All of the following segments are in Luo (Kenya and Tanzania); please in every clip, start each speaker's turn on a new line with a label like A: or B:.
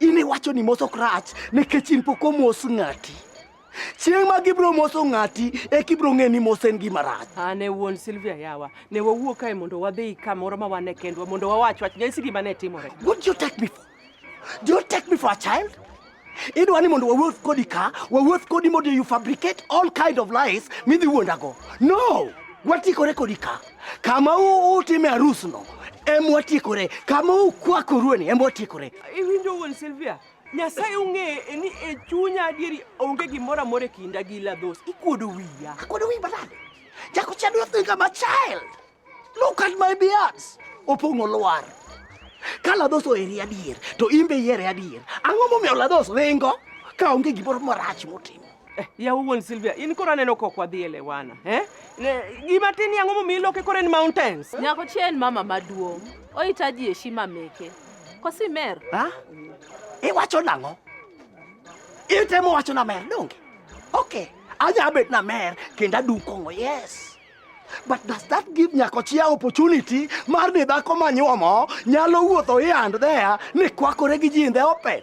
A: In iwacho ni moso krach nikech in pok omos ng'ati. Chieng' ma gibro moso ng'ati e kibro ng'e ni mos en gima rach. An e wuon Silvia
B: yawa. Ne wawuo kae mondo wadhi kamoro ma wan e kendwa mondo wawach wach. Nyasi gima ne timore. What do you take me for?
A: Do you take me for a child? Idwa ni mondo wawuoth kodi ka, wawuoth kodi mondo you fabricate all kind of lies midhi wuondago. No! Watikore kodi ka. Kama u utime arus no em watiekore, kama ukwakoru ni em watiekore. Iwinjo wuon Silvia?
B: Nyasaye ung'e e ni e chunya adieri onge gimoro amora e kinda gi Ladhos. Ikuodo wiya. Akuodo wiyi manade?
A: Jago cha do think I'm a child. Look at my beards. Opong'o lwar. Ka Ladhos oheri adier to in be ihere adier. Ang'o momiyo Ladhos ringo ka onge gimoro marach motimo? Eh, ya wuon Silvia,
B: in koro aneno kok wadhi elewana. Eh? Gima tin yango momi iloke kore ni mountains. Nyako chien mama
C: maduong'. Ohitaji heshima meke. Kosi mer. Ha?
A: Iwacho nang'o? Itemo wacho na mer donge? Okay. Anya bet na mer kendo adum kong'o. Yes. But does that give Nyakochia opportunity mar ni dhako manyuomo nyalo wuotho here and there ni kwakore gi ji in the open?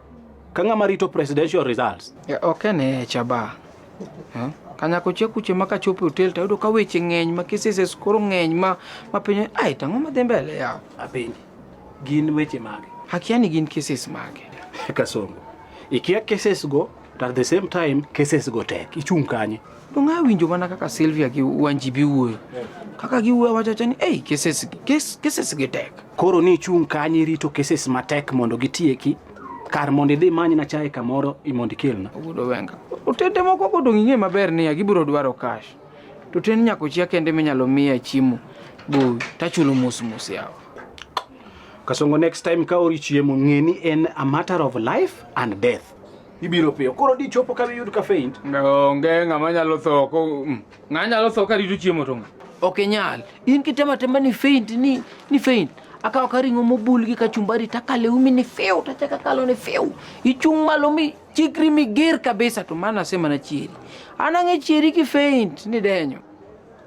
D: Ka ng'ama rito presidential results. Ya, ok ene echa
E: ba. Eh? Kanyako che kuche ma kachopo hotel tayudo ka weche ng'eny ma cases koro ng'eny ma ma piny ai tang'o ma dhi mbele yaw. Apenji.
D: Gin weche mage? Akia ni gin cases
E: mage. Kasongo.
D: Ikia cases go to at the same time cases go tek. Ichung' kanye? Donge awinjo mana
E: kaka Sylvia gi Wanji bi wuoyo. Kaka giwuoyo wachacha ni, "Ei, cases gi, kes- cases gi tek." Koro ni ichung' kanyo
D: irito cases matek mondo gitieki kar mondo idhi many na chae kamoro i mondo ikelna. Ogudo Wenga.
E: Otende moko go donge ing'e maber niya gibiro dwaro cash. To ten nyako chia kende minyalo miya chiemo. Bo tachulo mos mos yawa.
D: Kasongo next time ka ori chiemo ng'e ni en a matter of life and death. ibiro piyo. Koro di chopo ka iyud ka faint. Onge ng'ama
E: nyalo tho ko mm, ng'a nyalo tho ka rito chiemo to ng'a. Ok inyal. In kitema tema ni faint ni ni faint. Akawo ka ring'o mobul gi kachumbari takale umi ni fiu tachaka kalo ni fiu. Ichung' malo mi chikri mi ger kabisa to mana sema na chieri. Anang'e chieri ki faint ni denyo.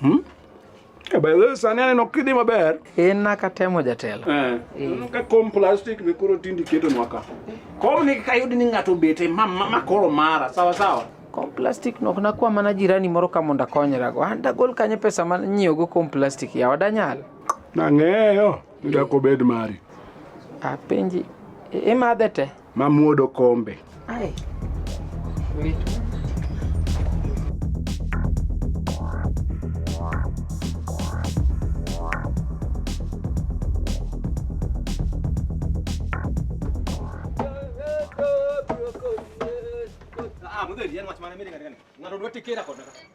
D: Hmm? Eh, sani aneno kidhi maber in naka temo
E: jatelo eh. eh. ka kom
D: plastic be koro tindi keto nwaka kom ni kayudi ni ng'ato obete ma, ma, ma koro mara sawa sawa kom plastic
E: nok nakwa mana jirani moro ka mondo akonyrago an dagol kanye pesa ma nyiewogo kom plastic yawa danyal nang'eyo
D: ni dakobed mari apenji
E: imadhe te Mamuodo
D: kombe.
E: Ai.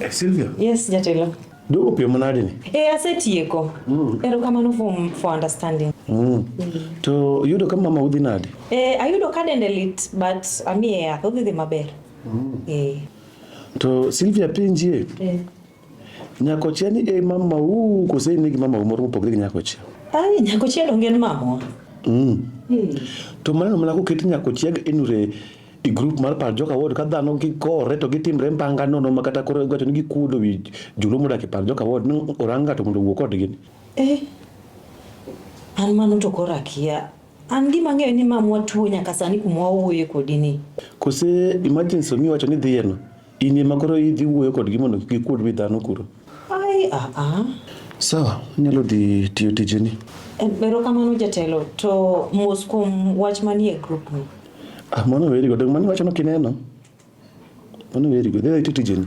D: Eh, Sylvia. Yes, jatelo.
F: Dogo pio manade
D: ni? Eh, asetieko.
F: Mm. Erokamano for, for understanding. Mm. Mm. To
D: yudo ka mama udhi nade? Eh, ayudo ka dende
F: lit but amiye yath odhi dhi maber. Mm. Eh. To
D: Sylvia penjie. Eh. Nyakochia ni e mama u kose in gi mama u moro mopogre gi nyakochia? Ai nyakochia
F: donge en mamwa. Mm. Hmm.
D: To maneno mana koket nyakochia enure i group mar par joka wod ka dhano gikore to gitimre mbanga nono ma kata koro gacho ni gikuodo wi joluo modak e par joka wod ni orang ng'ato mondo owuo kodgi. Eh,
F: an mano to koro akia. An gima ang'eyo ni mamwa tuo nyaka sani kuma wawuoye kodi ni. Kose
D: emergency omiyo wacho ni dhiyeno. In ema koro idhi wuoyo kodgi mondo kik gikuod wi dhano kuro. Ai, ah,
F: ah.
D: Sawa, inyalo dhi tiyo tijeni. Erokamano
F: jatelo, to mos kuom wach manie grup ni. Ah, mano weri go,
D: dong' mano iwachono kineno. Mano weri go, dhi adhiya iti tijeni.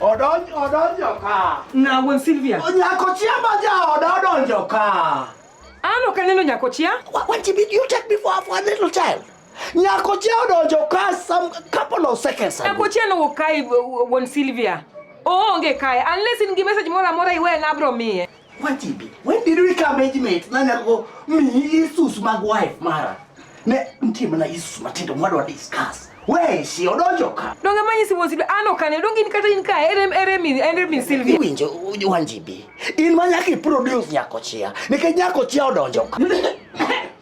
A: Odonj odonjo ka. Na wuon Silvia.
B: Nyako chia ma ja
A: oda odonjo ka. An ok aneno
B: nyako chia. What did you
A: take me for for a little child? Nyakoche odonjo ka some couple of seconds ago. Nyakoche no kai
B: won Sylvia. Oonge kae unless in gi message moro amora iwe na bro miye. Wajibi. When did
A: we come age mate? Na nyako mi isus mag wife mara. Ne mtie mana isus matindo mwado discuss. We si odonjo ka. Donge manyi si won Sylvia
B: ano kane donge in kata in kae ere ere mi ere mi Sylvia. Winjo wanjibi.
A: In manyaki produce nyakoche. Nikech nyakoche odonjo ka.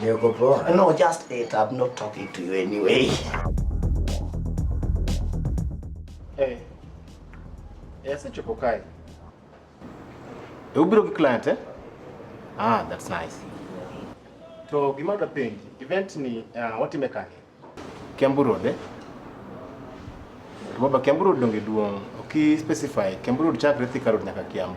A: Niko poa. No, just it. I'm not talking to you anyway.
D: Hey. Yes, it's Chokokai. You bro ki client eh? Ah,
G: that's nice.
D: To gima da penji, event ni uh, what imekani? Kiambu
G: Road eh? Baba Kiambu Road donge duong. Oki specify Kiambu Road chakre Thika Road nyaka Kiambu.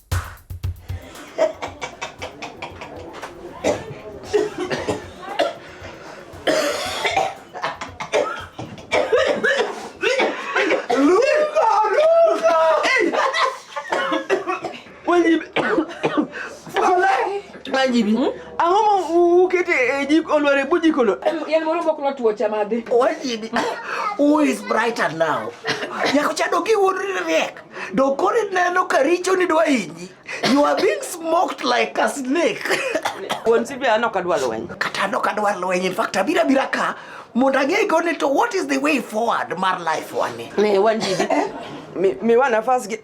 B: ji bi ang'o ma ukete e jik olwar e buji kolo yel moro mok notwo chamade waji bi
A: who is brighter now nyako chado gi wuod riek Do koro ineno ka richo ni dwa hinyi. You are being smoked like a snake. Wuon Sibia
B: anok adwa lweny. Kata anok adwa lweny.
A: In fact, abira bira ka mondo ang'e go ni to what is the way forward mar life wani. Ne wan ji. Eh?
B: Mi mi wan nafas gi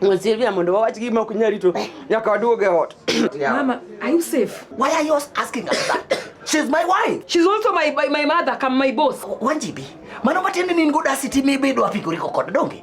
B: Wuon Sibia mondo wawach gima ok nyal rito nyaka waduog
A: e
B: ot. Mama,
A: are you
B: safe? Why are you
A: asking
B: us that? She's
A: my wife. She's also my my
B: mother, come my boss. Wanjibi. Mano
A: matiende ni in go dasi timi bedo apigori kokod donge?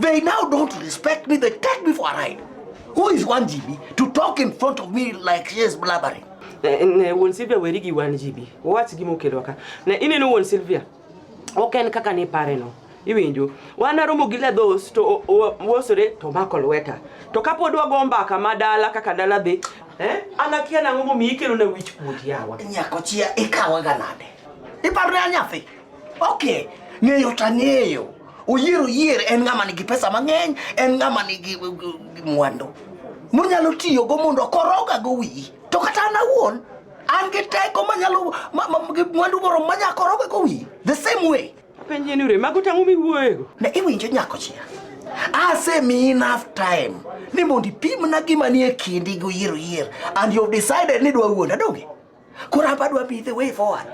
A: They now don't respect me. They take me for a ride. Who is 1GB to talk in front of me like she is blabbering? Eh, ne won Sylvia
B: werigi 1GB. Wach gi mokelo ka. Ne ineno won Sylvia. Ok en kaka ni pare no. Iwinjo. Wan aromo gi ledhos to wosore to mako lweta. To kapod wago mbaka ma dala kaka dala dhi. Eh? An akia nang'o momiyo ikelo na wich kuot yawa. Nyako chia ikawaga
A: nade? Iparre anyathi. Okay, ng'eyo to ang'eyo. Oyier oyier en ng'ama nigi pesa mang'eny, en ng'ama nigi uh, uh, mwandu monyalo tiyogo mondo okorogago wiyi. To kata an awuon an gi teko manyalo mwandu moro manya korogago wiyi the same way. Penje ni ure mago
B: tang'o miwuoyego. Ne iwinjo nyako
A: chia. Asemi enough time ni mondo ipimna gima nie kindi gi oyier oyier and you have decided ni dwa wuonda donge? Koro hapa dwa be the way forward.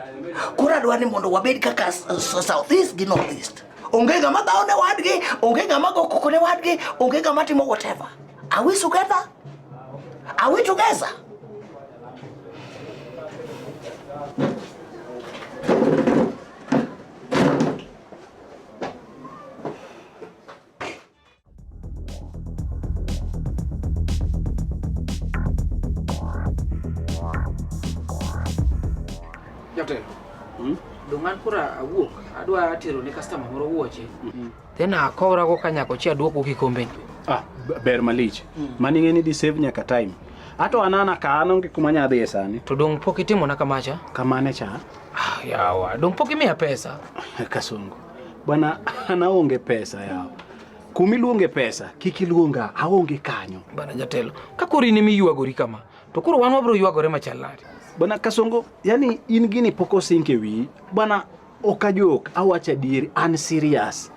A: Koro adwa ni mondo wabed kaka South East gi North East. Onge ng'ama dhawo ne wadgi, onge ng'ama go koko ne wadgi, onge ng'ama timo whatever. Are we together? Are we together?
E: Jatelo. Hmm? Dongan kura awuok adwa tero ne customer moro wuoche. Hmm. Then akora go kanyako chi aduoko kikombe. Ah, ber
D: malich. Hmm. Mani ng'eni di save nyaka time. Ato anana ka an onge kuma nyadhi e sani. To dong pok itimona
E: kamacha? Kamane cha?
D: Ah, yawa,
E: dong pok imiya pesa. Kasongo.
D: Bwana anaonge pesa yao kumiluonge pesa kik iluonga aonge kanyo bana jatelo ka
E: koro in emiywagori kama to koro wan wabiro ywagore machal nade bana kasongo
D: yani in gini pok osink e wiyi bana ok ajok awacho adieri an serious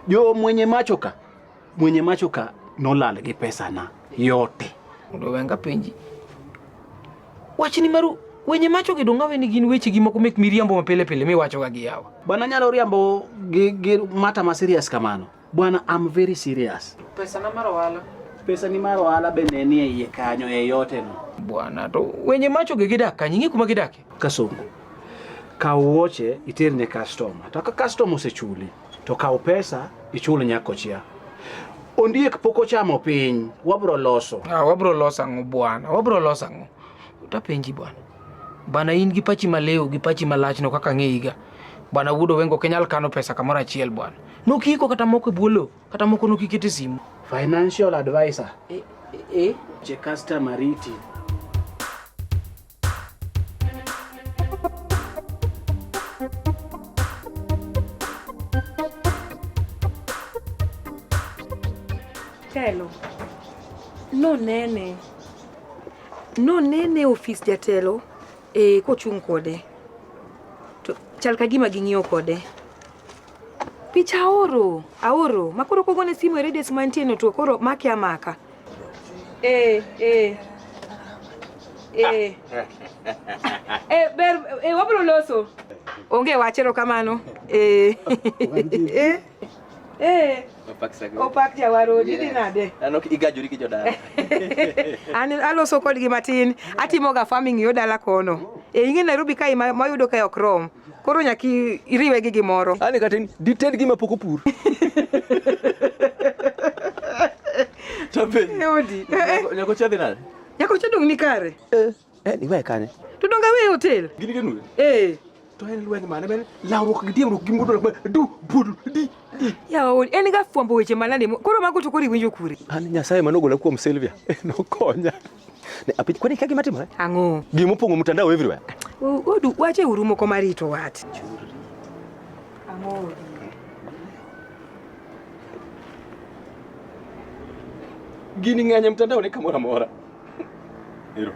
D: jo mwenye macho ka Mwenye macho ka nolal gi pesa na yote. Mondo wenga
E: penji. Wachni maru wenye macho gi dongawe ni gin weche gi moko mek miriambo mapile pile miwacho ga gi yawa. Bana nyalo riambo
D: gi, gi mata ma serious kamano. Bwana I'm very serious. Pesa na mar ohala.
E: Pesa ni mar ohala
D: bende nie iye kanyo e yote no. Bwana to
E: wenye macho gi gidak kanyo ing'e kuma gidak. Kasongo,
D: kaw wuoche iter ne kastoma, to ka kastoma osechuli to kaw pesa ichul nyakochia. Ondiek pok ochamo piny, wabro loso. Ah, wabro loso ang'o
E: bwana? Wabro loso ang'o? Tapenji bwana. Bana in gi pachi malew gi pachi malachno kaka ng'eyiga. Bwana wuod Owengo ok inyal kano pesa kamoro achiel bwana. Nokiko kata moko e bwo lowo, kata moko nokikete simu. Financial
D: advisor. Eh, eh, eh. Je customer riti.
H: Telo. No nene. No nene ofis jatelo e kochung' kode. To chal ka gima ging'iyo kode. Picha aoro, aoro. Makoro kogone simu e radius mantie no to koro make amaka. Eh, eh. Eh. eh, ber, eh, wabro loso. Onge wach erokamano. Eh. eh. Eh. Opak jawarodi yeah. Dinade? Ano igajori gi
G: jodala. An
H: aloso kodgi matin. Atimoga farming yo dala kono. Oh. E ing'e Nairobi kae mayudo kae ok rom. Koro nyaka iriwe gi gimoro. Ani kata dited
G: gima pok opur. Tabe. Yodi. Nyako
H: chadhi nade?
G: Nyako chadong ni kare.
H: Eh, eh ni wae
G: kane. To donga we hotel.
H: Gini genu. Eh.
G: To en
H: lweny mane men
G: lawruok gi diemruok gi mudo du budu di. Ya ol en
H: ga fwambo weche manade. Koro mago to kori winjo kure. Ani nyasaye manogola
G: kuom Silvia. Nokonya. Ne apit kwani kagi matimo eh? Ang'o? Gimo pongo
H: mtandao
G: everywhere. Odu wache
H: urumo ko marito wat. Ang'o?
G: Gini ng'anya mtandao ni kamora mora. Hilo.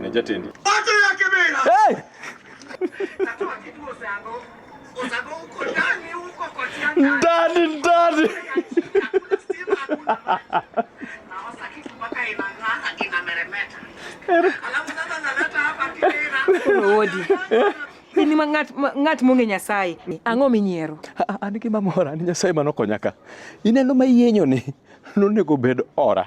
G: Ni jatendi. Watu ya kibira.
A: Hey! Kwa sababu uko ndani huko kwa tianga. Ndani ndani. Naosa kitu
H: mpaka inang'ara inameremeta. Alafu sasa naleta hapa kidera. Wodi. Ini ma ngat ma- ngat monge Nyasaye. Ang'o minyiero? A- An gi mamora
G: ni Nyasaye mano konyaka. Ineno ma yienyo ni nonego bed ora.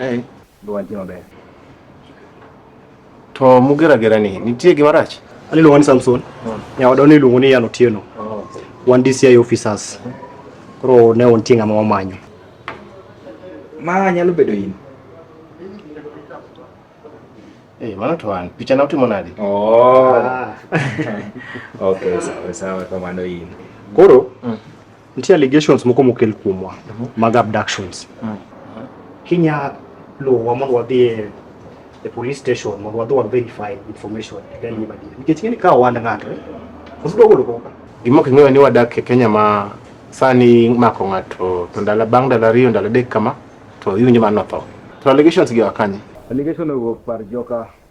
G: Eh, dwaje maber.
I: To mugera gera ni nitie gima rach? Ani luongo ni Samson. Hmm. Ya wadoni ni luongo ni Yano Tieno. Oh. Wan DCI officers. Koro ne on tinga mama manyo.
G: Ma nyalo bedo in.
I: Eh, hey, mano to an picha na utimo nadi? Oh.
G: Ah. okay, sawa sawa kamano in. Koro mm.
I: Nitie allegations moko mokel kuomwa mhm. mag abductions. Mm. Kinya luwa mondo wadhi e, e police station mondo wadhi wa verify information then mm. ibadi. Nikech ng'eni ka wand ng'ato eh, osudo golo koka. Gima ok ing'eyo ni wadak
J: e Kenya ma sani mako ng'ato to ndalo bang' ndalo ariyo ndalo adek kama to iwinjo mano tho. To allegations gi wakanye. Allegation owuok par
G: joka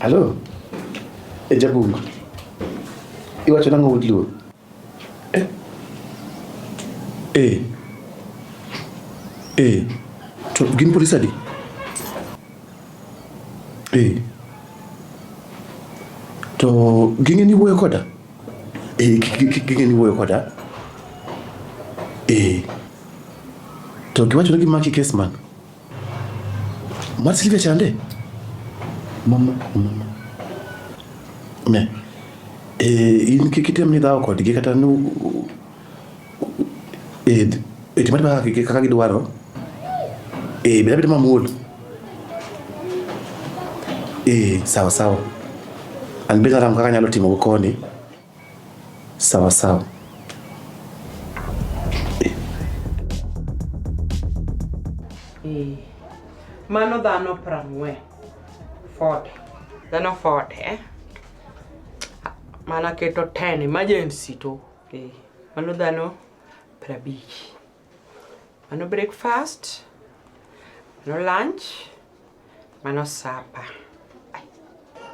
D: Alo, e Jabungu, iwacho nang'o wud luo? Eh, eh, eh, to gin polise adi? Eh, to ging'e ni wuoyo koda? Eh, kike ni wuoyo koda. Eh. To giwacho ni gimaki kes man. Mar Silvia chande. Mama, mama. Ne. Eh, in kik item ni dhawo kodgi kata ni Eh, eh, chuma kaka kike kaka gidwaro. Eh, bila bila mamuol. Eh, sawa sawa. An bila ram kaka nyalo timo go koni. Sawa sawa. Eh. eh.
B: Mano dhano prang'we. Ford. Dhano Ford, eh? Mana keto 10 emergency to Okay. Mano dhano prabich. Mano breakfast. Mano lunch. Mano supper.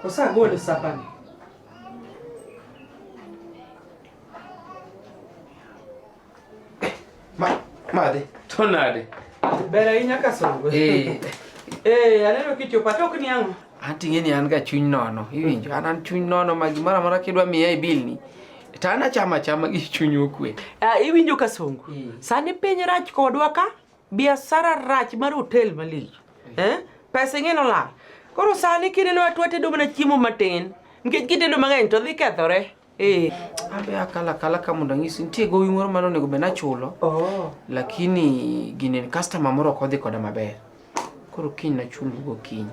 B: Osagolo supper ni.
E: Ma, madhi. To nade? Ber ahinya
B: ka songo. Eh. Eh, aneno kichopo atok ni ang'o? Ating'e ni an ga chuny
E: nono. Iwinjo? An an chuny nono ma gimoro amora kidwa miya e bill ni. To an achama achama gi chuny okwe. Ah, iwinjo ka songo.
B: Mm. Sani piny rach kodwa ka, biashara rach mar hotel malich. Eh? Pesa ing'e nolal. Koro sani kineno atwa tedo mana chiemo matin. Nikech kitedo mang'eny to dhi kethore. Eh, abe
E: akala kala ka mondo ang'isi nitie gowi moro mane onego bed nachulo. Oh. Lakini gini customer moro ok odhi koda maber. Koro kiny nachul go kiny.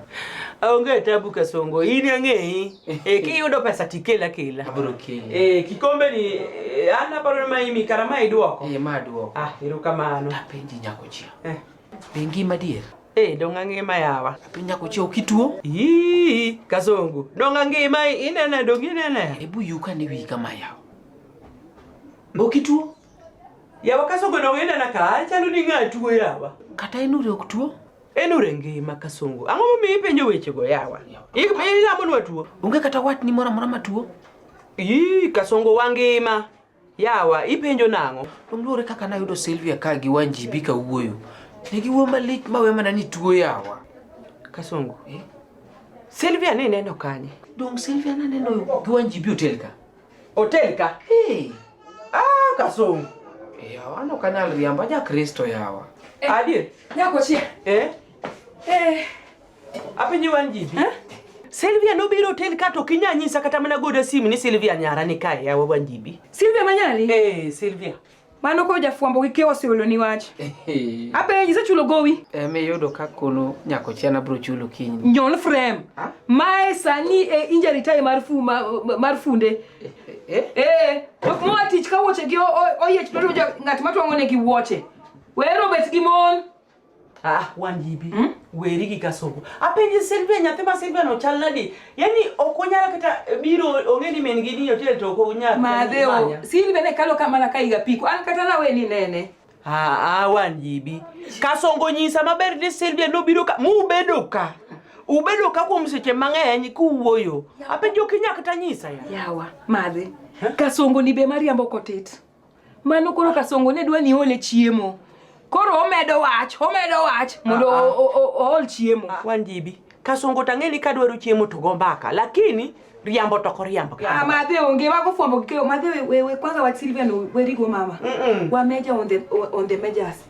E: Aonge tabu
B: kasongo. In ang'eyi. Eh, kiyudo pesa tikela kela. Abro kela.
E: Eh, kikombe ni
B: eh, an aparo ma imi kara ma iduoko. Eh, ma duoko. Ah,
E: erokamano.
B: Tapenji nyako chia.
E: Eh. Bengi madier. Hey, eh, donga ngima
B: yawa. Apinya kuchia ukituo?
E: Ii, kazongo.
B: Donga ngima inene dongi inene. Hebu yuka ni wii
E: kama yawa. Ukituo? Yawa
B: kasongo donga inene ka achalo ni ng'atuo yawa. Kata inure ukituo?
E: Enure ngima
B: kasongo. Ang'o mi ipenjo weche go yawa? Ik mi ina mon watuo. Unge kata wat ni mora
E: mora matuo. Ii,
B: kasongo wangima. Yawa, ipenjo nang'o? Oluore kaka nayudo
E: Sylvia ka gi Wanjibi ka wuoyo. Ne giwuo malich ma we mana ni tuo yawa. Kasongo, eh?
B: Sylvia ne neno kanye? Dong Sylvia na
E: neno gi Wanjibi hotel ka. Hotel ka?
B: Hey. Ah, Kasongo. Eh, yawa, ano
E: kanal riamba ja Kristo yawa. Eh, Adier?
B: Nyako chia.
H: Eh? Eh.
B: Apenji wan jibi. Eh? Silvia nobiro hotel ka to kinya nyisa kata mana goda simu ni Silvia nyara ni
H: kae
B: yawa wan jibi. Silvia manyali? Eh, Silvia. Mano
H: ko jafwambo gi kewa siolo ni wach. Apenji isechulo gowi? Eh, me yudo ka kono
E: nyako chena bro chulo kiny. Nyol frame.
H: Ha? Mae sani e injury time mar fu mar funde. Eh. Eh. eh ok mo atich ka wuoche gi oyiech to ng'at matwang'o ne gi wuoche. Wero bet gi mon. Ah,
B: wanjibi mm? weri gi kasoko apenji Silvia nyathi ma Silvia no chal nadi yani ok onyal kata eh, biro ong'e ni min gi ni hotel to ok onyal madheo Silvia
H: ne kalo kamana ka iga piko an kata na weni nene ah, ah
B: wanjibi kasongo nyisa maber ni Silvia no biro ka mu bedo ka ubedo ka kuom seche mang'eny kuwuoyo apenjo kinya kata nyisa ya yawa madhi
H: kasongo ni be mariambo kotit Mano koro kasongo ne dwa ni ole chiemo. Koro omedo wach, omedo wach mondo ah, ah. ool chiemo. Ah. Wan jibi.
B: Kasongo tang'e ni kadwaro chiemo to go mbaka. Lakini riambo to koriambo. Ah, madhe onge wago
H: fwambo kikeyo. Madhe we, we, we kwanza wa Silvia no werigo mama. Mm -mm. Wa major on the, on the majors.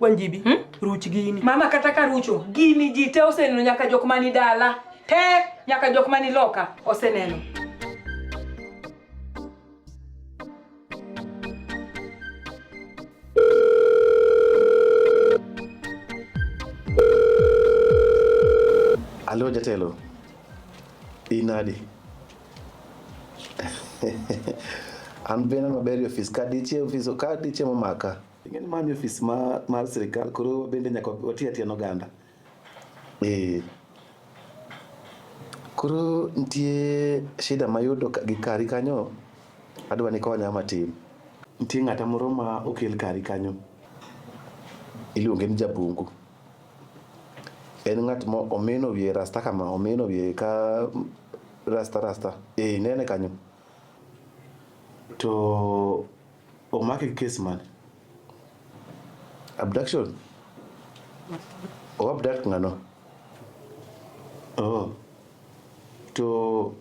B: Wanjibi, hmm? ruch gini. Mama kata ka rucho,
H: gini ji te oseneno nyaka jok mani dala. Te nyaka jok mani loka oseneno.
D: Alo jatelo. Inadi. An bena maber ofis ka dichie ofis ka dichie momaka. Ing'eni mani ofis ma, mar sirikal koro bende nyaka wati atiya n'oganda. Eh. Koro nitie shida mayudo ka- gi kari kanyo, adwa ni konya matin. Nitie ng'ata moro ma okel kari kanyo, iluonge ni Jabungu. En ng'at mo omino wiye rasta kama, omino wiye ka rasta rasta. Eh, inene kanyo. To Omake gi kes mane? Abduction? O abduct ng'ano? Oh. To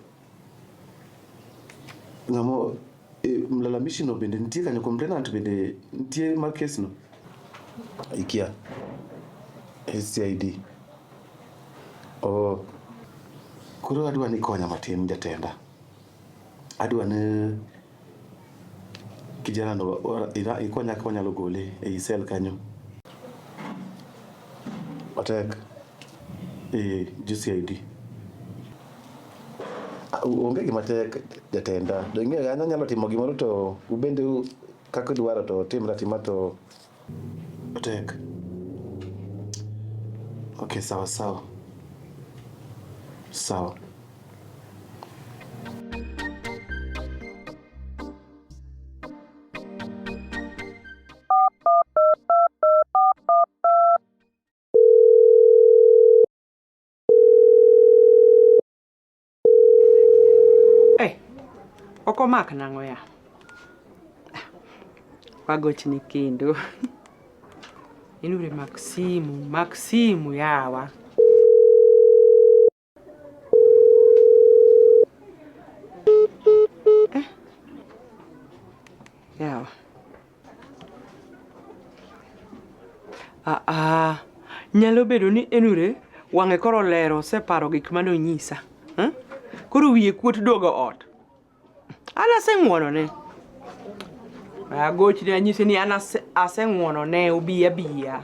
D: ng'amo e, mlalamishi no bende nitie kanyo, complainant bende nitie mar kes no? Ikia. SCID. Oh. Koro adwa ni konya matin jatenda. Adwa ni Kijana ndo iko nyaka wanyalo gole ei sel kanyo. Otek. Eh, jo CID. Onge gima tek jatenda. Donge an anyalo timo gimoro to ubende kaka idwaro to timra tima to Tek. Okay, sawa sawa. Sawa.
B: Hey, ok omak nang'o ya? Wagochni kendo. Inure mak simu, mak simu yawa. Eh. Yawa. Ah, ah. Nyalo bedo ni Enure wang'e koro lero oseparo gik mane onyisa. Hmm? Koro wiye kuot duogo ot. An aseng'wonone. Agochne anyise ni an ase- aseng'wonone obi abiya.